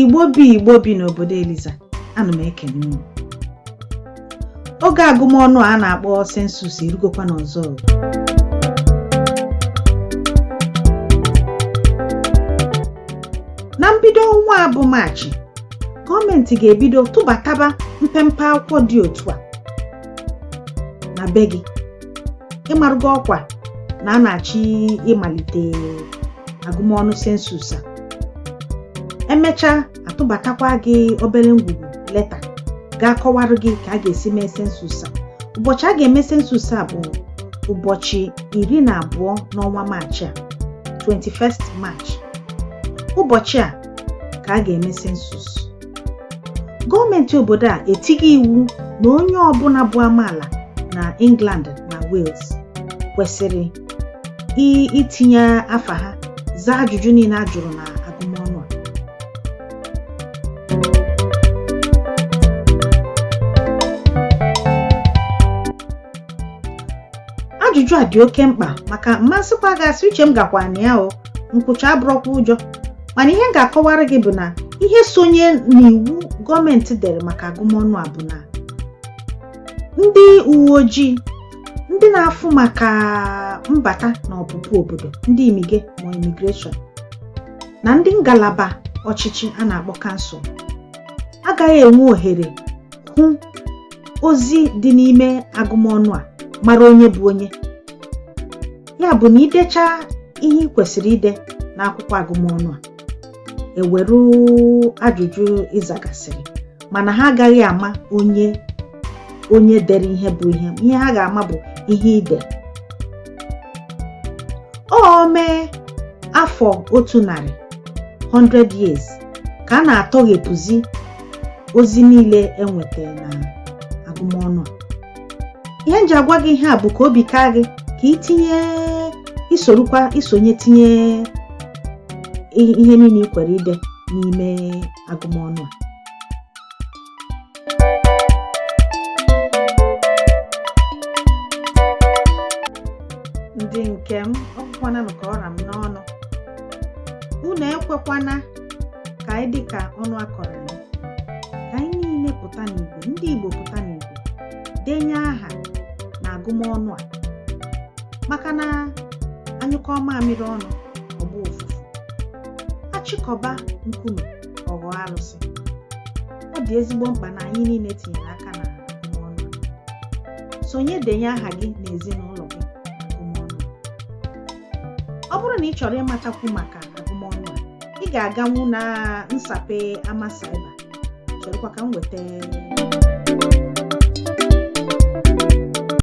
Igbo bi Igbo bi n'obodo Eliza, ana m ekele unu. Oge agụmọnụ a na-akpọ sensus erugokwa n'ọzọ. Na mbido ọnwa a bụ Maachị, gọọmenti ga-ebido tụbataba mpempe akwụkwọ dị otu a na be gị. ịmarụ gị ọkwa na a na-achọ ịmalite agụmọnụ sensus a e mechaa a tụbatakwa gị obere ngwugwu leta ga-akọwarụ gị ka a ga-esi mee sensus a ụbọchị a ga-eme sensus a bụ ụbọchị iri na abụọ n'ọnwa maachị a 21st March ụbọchị a ka a ga-eme sensus gọọmenti obodo a etigo iwu na onye ọbụla bụ amaala na England na Wales kwesịrị itinye afa ha zaa ajụjụ niile a jụrụ na agụmọnụ a ajụjụ a dị oke mkpa maka mmasịkwa gasị uche m gakwa na ya o nkwụcha abụrọkwa ụjọ mana ihe m ga-akọwara gị bụ na ihe sonye n'iwu gọọmenti dere maka agụmọnụ a bụ na ndị uwe ojii ndị na-afụ maka mbata na ọpụpụ obodo ndị imige ma imigreshọn na ndị ngalaba ọchịchị a na-akpọ kansụl agaghị enwe ohere hụ ozi dị n'ime agụmọnụ a mara onye bụ onye ya bụ na i decha ihe ị kwesịrị ide n'akwụkwọ agụmọnụ a e were ajụjụ ị zagasịrị mana ha agaghị ama onye dere ihe bụ ihe ihe ha ga-ama bụ ihe ide o mee afọ otu narị 100 years ka a na-atọghepụzi ozi niile e nweta na agụmọnụ a ihe m ji agwa gị ihe a bụ ka obi kaa gị ka i tinye i sorukwa i sonye tinye ihe niile ị kwere ide n'ime agụmọnụ a ndị nke m ọkwananụ ka ọ ra m n'ọnụ unu ekwekwana ka anyị dị ka ọnụ akọrọ anyị ka anyị niile pụta n'igwe ndị Igbo pụta n'igwe denye aha na agụmọnụ a maka na a nyụkọ mamịrị ọnụ ọ gbaa ụfụfụ a chịkọba nkume ọ ghọọ arụsị ọ dị ezigbo mkpa na anyị niile tinyere aka na agụmọnụ a sonye denye aha gị na ezinụlọ ọ bụrụ na ị chọrọ ịmatakwu maka agụmọnụ a ị ga-aganwu na nsape ama cyber cherekwa ka m weta